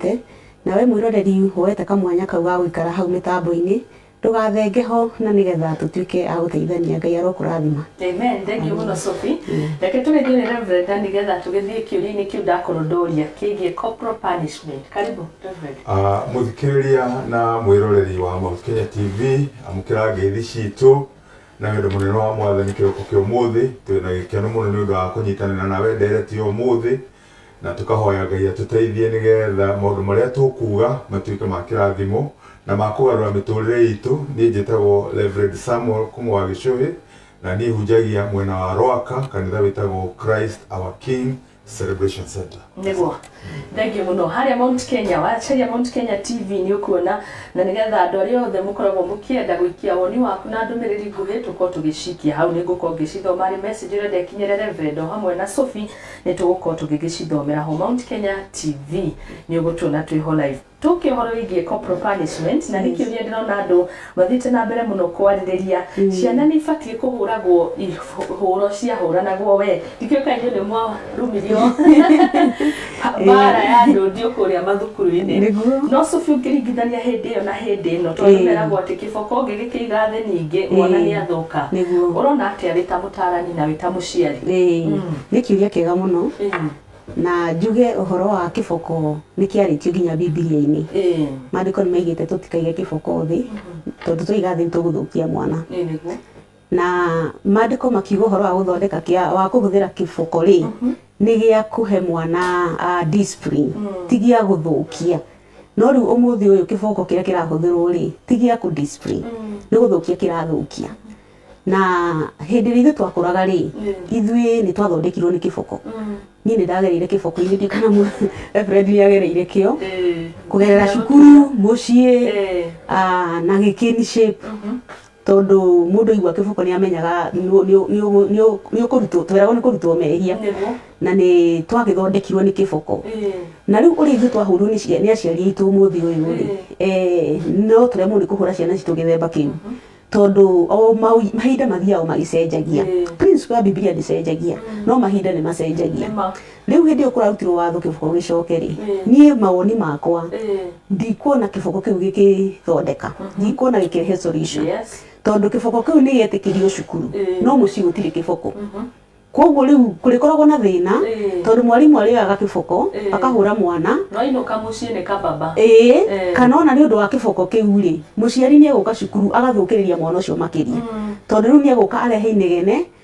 ũtũũrĩte, na wee mwĩroreri woete kamwanya kau ga gũikara hau mĩtambo-inĩ, ndũgathenge ho na nĩ getha tũtuĩke a gũteithania. Ngai arokũrathima. Amen. Thengiũ mũno Sophie. Reke tũgeithie nĩ Reverend na nĩ getha tũgĩthiĩ kĩũria-inĩ kĩu ndakorwo ndoria kĩgiĩ corporal punishment. Karibu Reverend. Mũthikĩrĩria na mwĩroreri wa Mount Kenya TV, amũkĩra ngeithi citũ na wendo mũnene wa Mwathani kĩroko kĩa ũmũthĩ. Twĩ na gĩkeno mũno nĩ ũndũ wa kũnyitanĩra nawe ndereti ya ũmũthĩ, Na tũkahoya Ngai atũteithie nĩ getha maũndũ marĩa tũkuuga matuĩke ma kĩrathimo na ma kũgarũra mĩtũrĩre itũ. Niĩ njĩtagwo Reverend Samuel kuma wa Gĩcũhĩ, na niĩ hunjagia mwena wa Rwaka, kanitha wĩtagwo Christ Our King Celebration Centre. Nĩguo. Thengiũ mũno. Harĩa Mount Kenya, wacaria Mount Kenya TV nĩ ũkuona, na nĩ getha andũ arĩa othe mũkoragwo mũkĩenda gũikia woni waku na ndũmĩrĩri nguhĩ tũkorwo tũgĩcikia hau. Nĩ ngũkorwo ngĩcithoma arĩ message ũrenda ĩkinyĩre Reverend o hamwe na Sophie, nĩ tũgũkorwo tũgĩgĩcithomera ho Mount Kenya TV nĩ ũgũtuona twĩ ho live tũkĩ ũhoro wĩgiĩ corporal punishment na nĩ kĩũria ndĩrona andũ mathiĩte na mbere mũno kwarĩrĩria ciana nĩ ibatiĩ kũhũragwo ihũro ciahũranagwo we ndikĩũĩ kana inyuĩ nĩ mwarumirio mbara ya ndũndiũ kũrĩa mathukuru-inĩ Nĩguo. no cũbi ũngĩringithania hĩndĩ ĩyo na hĩndĩ ĩno tondũ meragwo atĩ Kĩboko ngĩgĩkĩiga thĩ ningĩ mwana nĩ athũka. Nĩguo. Ũrona atĩa wĩ ta mũtaarani na wĩ ta mũciari? Ĩĩ, nĩ kiuria kĩega mũno. Na njuge ũhoro wa kĩboko nĩ kĩarĩtio nginya Bibilia-inĩ. Maandĩko nĩ maigĩte tũtikaige kĩboko thĩ, tondũ twaiga thĩ nĩ tũgũthũkia mwana. Na maandĩko makiuga ũhoro wa gũthondeka kĩa wa kũhũthĩra kĩboko rĩ nĩ gĩa kũhe mwana a discipline ti gĩa gũthũkia no rĩu ũmũthĩ ũyũ kĩboko kĩrĩa kĩrahũthĩrwo rĩ ti gĩa kũ discipline nĩ gũthũkia kĩrathũkia na hĩndĩ ĩrĩa ithuĩ twakũraga rĩ ithuĩ nĩ twathondekirwo nĩ kĩboko niĩ nĩ ndagereire kĩboko-inĩ ndiũĩ kana mũ reverend nĩ agereire kĩo kũgerera cukuru mũciĩ ah, na gĩkĩni shape Tondũ mũndũ aigua kĩboko nĩ amenyaga nĩ ũkũrutwo, tweragwo nĩ kũrutwo mehia na nĩ twagĩthondekirwo nĩ kĩboko. Na rĩu ũrĩa ithuĩ twahũrirwo nĩ aciari aitũ ũmũthĩ ũyũ rĩ, no tũremwo nĩ kũhũra ciana citũ gĩthemba kĩu. Tondũ o mahinda mathiaga o magĩcenjagia. Principle ya Bibilia ndĩcenjagia, no mahinda nĩ macenjagia. Rĩu hĩndĩ ĩyo kũrarutirwo watho kĩboko gĩcoke-rĩ, niĩ mawoni makwa ndikuona kĩboko kĩu gĩkĩthondeka, ndikuona gĩkĩrehe solution. Tondũ kĩboko kĩu nĩ gĩetĩkĩrio cukuru, no mũciĩ gũtirĩ kĩboko. Kũguo rĩu kũrĩkoragwo na thĩna, tondũ mwarimũ arĩoyaga kĩboko akahũra mwana. No ainũka mũciĩ nĩ kababa. Ĩĩ, kana ona nĩ ũndũ wa kĩboko kĩu-rĩ, mũciari nĩ egũka cukuru agathũkĩrĩria mwana ũcio makĩria. Tondũ rĩu nĩ egũka arehe inegene.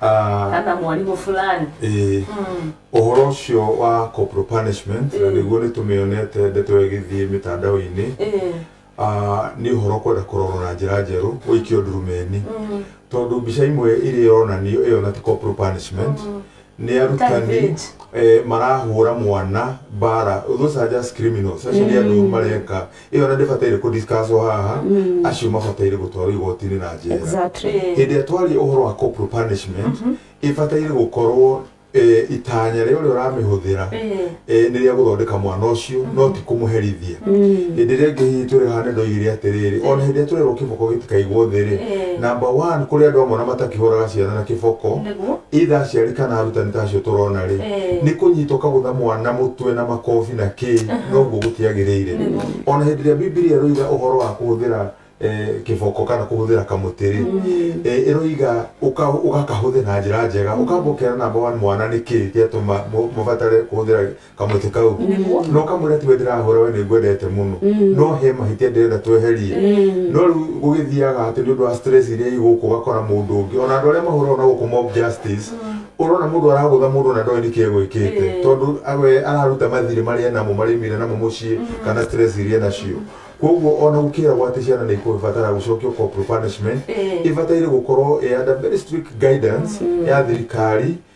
Ah, kana mwarimũ fulani ĩĩ. Mm. Ũhoro ũcio wa corporal punishment, na Ĩĩ. nĩguo nĩ tũmĩonete ndeto ĩyo ĩgĩthiĩ mĩtandao-inĩ, Ĩĩ. ah, nĩ ũhoro kwenda kũrorwo na njĩra njerũ, gũikio ndurumeni. Mm. Tondũ mbica imwe ĩrĩa ĩronanio ĩyo na ti corporal punishment, nĩ arutani Target. eh, marahũra mwana mbara. Those are just criminals. Acio nĩ andũ ũru mareka ĩyo ona ndĩbataire kũ discusswo haha acio mabataire gũtwarwo igoti-inĩ na njera Exactly. Eh. hĩndĩ ĩrĩa twaria ũhoro wa corporal punishment ĩbataire gũkorwo eh, itanya rĩa ũrĩa ũramĩhũthĩra Eh. eh, nĩ rĩa gũthondeka mwana ũcio no ti kũmũherithia hĩndĩ ĩrĩa ĩngĩ hihi tũrĩ haha nĩ ndoigire atĩrĩrĩ ona hĩndĩ ĩrĩa tũrerwo kĩboko gĩtikaigwo thĩ rĩ Eh. namba one kũrĩ andũ amwe ona matakĩhũraga ciana na kĩboko itha aciari kana arutani ta acio tũrona rĩ Eh. nĩ kũnyita ũkagũtha mwana mũtwe na makobi na kĩ noguo gũtiagĩrĩire Nĩguo. ona hĩndĩ ĩrĩa bibilia ĩroiga ũhoro wa kũhũthĩra eh, kĩboko kana kũhũthĩra kamũtĩ rĩ eh, ĩroiga ũka- ũgakahũthĩra na njĩra njega ũkambokera namba one mwana nĩ kĩ gĩatũma mũ- mũbatare kũhũthĩra kamweke kau no kamwĩra tiwe ndĩrahũra we nĩngwendete mũno no he mahĩtia ndĩrenda tweherie no rĩu gũgĩthiaga atĩ nĩ ũndũ wa stress iria igũkũ ũgakora mũndũ ũngĩ ona andũ arĩa mahũraga na gũkũ mob justice ũrona mũndũ aragũtha mũndũ na ndoĩ nĩkĩ egwĩkĩte tondũ we araruta mathirĩ marĩa enamo marĩa aumire namo mũciĩ kana stress iria enacio koguo ona gũkĩragwo atĩ ciana nĩ ikũbatara gũcokio corporal punishment ibataire gũkorwo ĩ under very strict guidance ya thirikari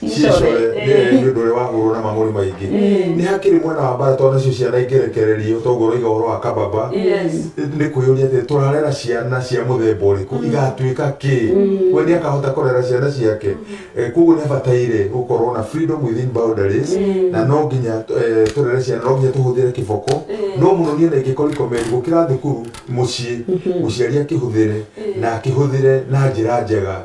cicore nĩ nĩ ũndũ ũrĩa wahũrwo na mang'ũrĩ maingĩ nĩ hakĩrĩ mwena wa mbara tondũ nacio ciana ingerekererio toguo ũroiga ũhoro wa kababa nĩ kwĩyũria atĩ tũrarera ciana cia mũthemba ũrĩkũ igatuĩka kĩ we nĩ akahota kũrera ciana ciake Eh, koguo nĩ abataire gũkorwo na freedom within boundaries na no nginya eh, tũrere ciana no nginya tũhũthĩre kĩboko no mũno niĩ na ingĩkorwo ikomeri gũkĩra thukuru mũciĩ mũciari akĩhũthĩre na akĩhũthĩre na njĩra njega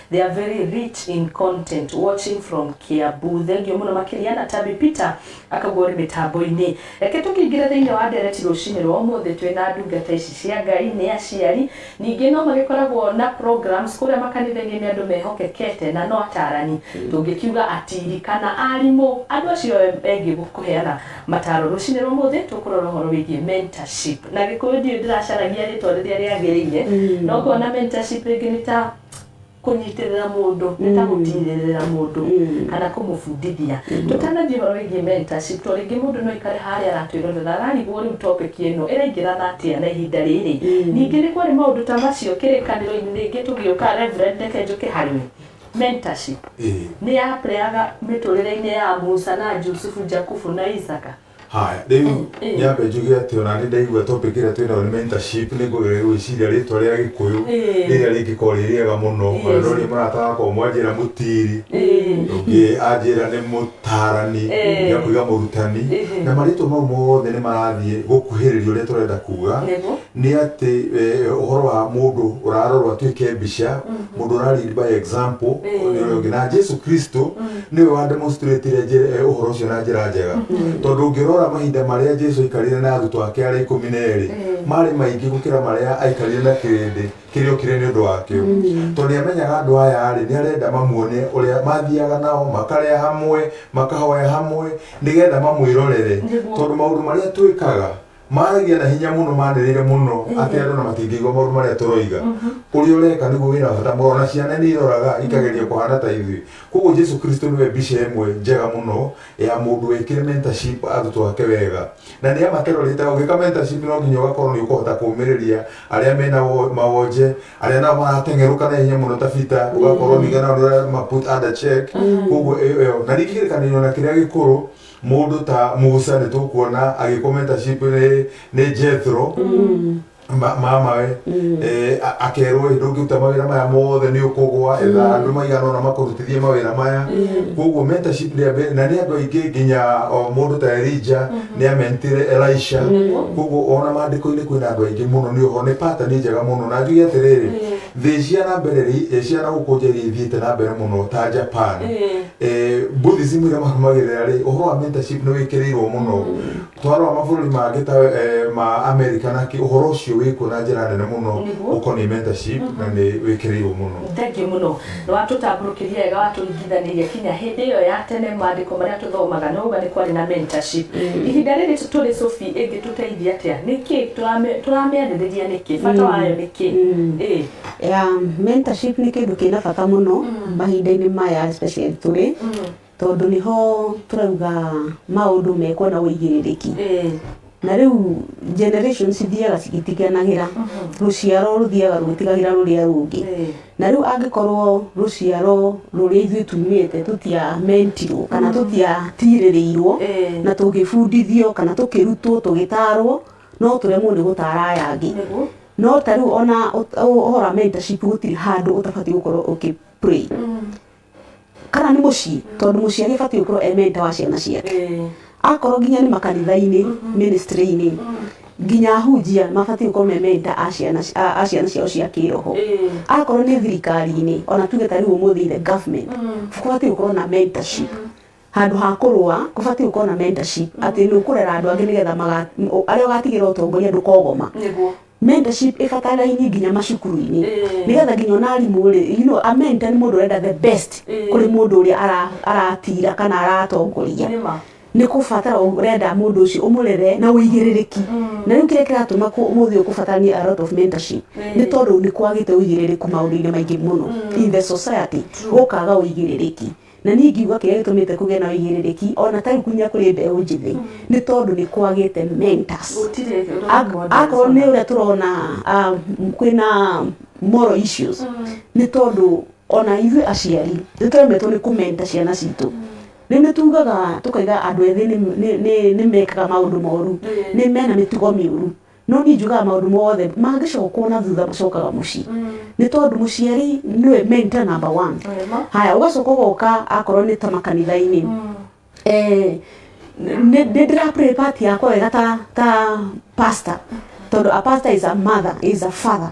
They are very rich in content watching from Kiambu. Thengio mũno makĩria na Tabby Peter akaugua ũrĩ mĩtambo-inĩ. Reke tũkĩingĩre thĩinĩ wa ndereti rũcinĩ rwa ũmũthĩ twĩ na ndungata ici cia Ngai nĩ aciari. Ningĩ no magĩkoragwo na programs kũrĩa makanitha-inĩ nĩ andũ mehokekete na no atarani. Tũngĩkiuga atiri kana arimũ andũ acio engĩ kũheana mataro. Rũcinĩ rwa ũmũthĩ tũkũrora ũhoro wĩgiĩ mentorship. Na gĩkũyũ ndiũĩ ndĩracaragia rĩtwa rĩrĩa rĩagĩrĩire no ngona mentorship rĩngĩ nĩ ta... kũnyitĩrĩra mũndũ nĩ ta gũkinyĩrĩra mũndũ kana kũmũbundithia tũtanathiĩ ũhoro wĩgiĩ mentorship to rĩngĩ mũndũ no aikare harĩa aratwĩrorera ararigwo rĩu topic ĩno ĩraingĩrana atĩa na ihinda rĩrĩ ningĩ nĩ kwarĩ maũndũ ta macio kĩrĩkanĩro-inĩ rĩngĩ tũgĩũka reverend reke njũke harĩ we mentorship nĩ yaplayaga mĩtũrĩre-inĩ ya Musa na Jusufu Jakubu na Isaka Haya, rĩu nyambe njuge atĩ ona nĩ ndaigua topic ĩrĩa twĩ nayo nĩ mentorship nĩ ngwĩciria rĩtwa rĩa gĩkũyũ rĩrĩa rĩngĩkorwo rĩ rĩega mũno ona no niĩ mũrata wakwa ũmwe anjĩra mũtiri ũngĩ anjĩra nĩ mũtarani ũngĩ akauga mũrutani na marĩtwa mau mothe nĩ marathiĩ gũkuhĩrĩria ũrĩa tũrenda kuga Nĩ atĩ ũhoro wa mũndũ ũrarorwo atuĩke mbica, mũndũ ũra lead by example nĩ ũrĩa ũngĩ. Na Jesu Kristo nĩwe wa demonstrate ũhoro ũcio na njĩra njega. Tondũ ũngĩrora mahinda marĩa Jesu aikarire na arutwo ake arĩa ikũmi na erĩ, marĩ maingĩ gũkĩra marĩa aikarire na kĩrĩndĩ kĩrĩa okire nĩ ũndũ wakĩo. Tondũ nĩ amenyaga andũ aya rĩ, nĩ arenda mamuone ũrĩa mathiaga nao, makarĩa hamwe, makahoya hamwe, nĩgetha mamwĩrorere. Tondũ maũndũ marĩa twĩkaga... Maaragia na hinya mũno manĩrĩire mũno atĩ andũ na matingĩigua maũndũ marĩa tũroiga. Ũrĩa ũreka nĩguo wĩra wa bata mũno, na ciana nĩ iroraga ikageria kũhana ta ithuĩ. Kwoguo Jesu Kristo nĩwe mbica ĩmwe njega mũno ya mũndũ wekire mentorship arutwo ake wega. Na nĩ amakĩrorete, ũgĩka mentorship no nginya ũgakorwo nĩ ũkũhota kũũmĩrĩria arĩa mena mawonje, arĩa nao marateng'erũka na ihenya mũno ta Peter, ũgakorwo ningĩ nao nĩ ũrama put under check. Kwoguo ĩyo, na ningĩ kĩrĩkanĩro na kĩrĩa gĩkũrũ, Mũndũ ta Musa nĩ tũkuona agĩkomenta ship nĩ, nĩ Jethro ma- mamawe eh, a- akerwo "Ĩ, ndũngĩruta mawĩra maya mothe nĩ ũkũgwa etha andũ maigana ona makũrutithie mawĩra maya koguo mentorship ndĩa mbere na nĩ andũ aingĩ nginya o, mũndũ ta Elija nĩ amentire Elisha koguo ona maandĩko-inĩ kwĩna andũ aingĩ mũno nĩ oho nĩ pattern njega mũno na njuge atĩrĩrĩ thĩ cia na mbere rĩ- cia na gũkũ nja iria ithiĩte na mbere mũno ta Japan Eh, Buddhism ĩrĩa marũmagĩrĩra rĩ ũhoro wa mentorship nĩ wĩkĩrĩirwo mũno twarora mabũrũri mangĩ ta eh, ma America na kĩ ũhoro ũcio wĩkuo na njĩra nene mũno Nĩguo. ũkoniĩ mentorship na nĩ wĩkĩrĩirwo mũno thengiũ mũno nĩ watũtambũrũkĩria wega watũringithanĩria kinya hĩndĩ ĩyo ya tene maandĩko marĩa tũthomaga nĩ wauga nĩ kwarĩ na mentorship ihinda rĩrĩ tũ- tũrĩ cobi ĩngĩtũteithia atĩa nĩ kĩ Tũrame- tũramĩarĩrĩria nĩkĩ bata wayo nĩkĩ Ĩĩ. Mentorship nĩ kĩndũ kĩna bata mũno mahinda-inĩ maya especially tũrĩ, tondũ nĩho tũrauga maũndũ mekwo na ũigĩrĩrĩki. Na rĩu generation cithiaga cigĩtiganagĩra, rũciaro rũthiaga rũgĩtigagĩra rũrĩa rũngĩ. Na rĩu angĩkorwo rũciaro rũrĩa ithuĩ tumĩte tũtia mentirwo kana tũtiatirĩrĩirwo na tũgĩbundithio kana tũkĩrutwo tũgĩtarwo, no tũremwo nĩ gũtaara aya angĩ Nĩguo. no ta rĩu ona ũ- ũ- ũhoro wa mentorship gũtirĩ handũ ũtabatiĩ gũkorwo ũkĩ pray kana nĩ mũciĩ tondũ mũciari abatiĩ gũkorwo e mentor wa ciana ciake Eh, akorwo nginya nĩ makanitha-inĩ ministry-inĩ nginya ahunjia mabatiĩ gũkorwo me mentor a ciana ci- a a ciana ciao cia kĩroho eh, akorwo nĩ thirikari-inĩ ona tuge ta rĩu ũmũthĩ the government kũbatiĩ gũkorwo na mentorship Handũ ha kũrũa, kũbatiĩ gũkorwo na mentorship, atĩ nĩ ũkũrera andũ angĩ nĩgetha maga, o- arĩa ũgatigĩra ũtongoria ndũkogoma. Nĩguo. Mentorship ĩbatarainie nginya macukuru-inĩ. Ĩĩ. Nĩgetha nginya ona arimũ-rĩ, you know, a mentor nĩ mũndũ ũrenda the best Ĩĩ. kũrĩ mũndũ ũrĩa ara- aratira kana aratongoria. Nĩ ma. Nĩ kũbatara ũrenda mũndũ ũcio ũmũrere na ũigĩrĩrĩki. Na rĩu kĩrĩa kĩratũma kũ- ũmũthĩ ũyũ kũbataranie a lot of mentorship, Ĩĩ. nĩ tondũ nĩ kwagĩte ũigĩrĩrĩku maũndũ-inĩ maingĩ mũno in the society, gũkaga ũigĩrĩrĩki. Na niĩ ngiuga kĩrĩa gĩtũmĩte kũgĩe na ũigĩrĩrĩki o na ta rĩu nginya kũrĩ mbeũ njĩthĩ nĩ tondũ nĩ kwagĩte mentors. Gũtirĩ role Ak- models akorwo nĩ ona. ũrĩa tũrona ah, m- kwĩna moral issues nĩ tondũ ona ithuĩ aciari nĩ tũremetwo nĩ kũmenta ciana citũ nĩ nĩ tugaga tũkaiga andũ ethĩ nĩ- nĩ- nĩ- nĩ mekaga maũndũ moru Ĩĩ. nĩ mena mĩtugo mĩũru no niĩ njugaga maũndũ mothe mangĩcokwo na thutha macokaga mũciĩ nĩ tondũ mũciari nĩwe mentor number one Wema. haya ũgacoka ũgoka akorwo nĩ ta makanitha-inĩ Eh, nĩ nĩ ndĩra play part yakwa wega ta ta pastor tondũ a pastor is a mother is a father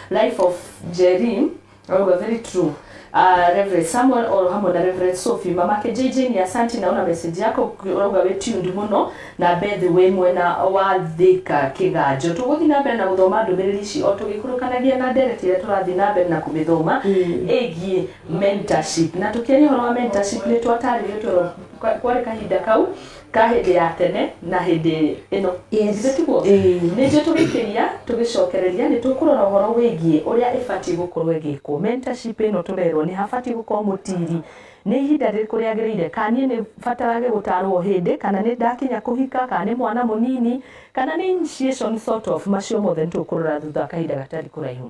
Life of Njeri arauga very true uh, Rev Samuel oro hamwe na Rev Sophie mamake JJ ni asanti naona message yako urauga wi tuned muno na Beth wi mwena wa thika kiganjo tuguthi na mbere na guthoma ndumiriri ici o tugikurukanagia na ndereti iria turathi na mbere na kumithoma igie mentorship na tukiaria horo wa mentorship ni twataririo toro kwa- kwari kahinda kau Ka hĩndĩ ya tene na hĩndĩ ĩno. Yes. Githĩ tiguo? Ĩĩ. Ningĩ tũgĩkĩria, tũgĩcokereria, nĩ tũkũrora ũhoro wĩgiĩ ũrĩa ĩbatiĩ gũkorũo ĩgĩkwo. Mentorship ĩno tũrerũo nĩ habatiĩ gũkorũo mũtiiri, nĩ ihinda rĩrĩkũ rĩagĩrĩire, kana niĩ nĩ batarage gũtaarũo o hĩndĩ, kana nĩ ndakinya kũhika, kana nĩ mwana mũnini, kana nĩ initiation sort of, macio mothe nĩ tũkũrora thutha wa kahinda gatarĩ kũraihu.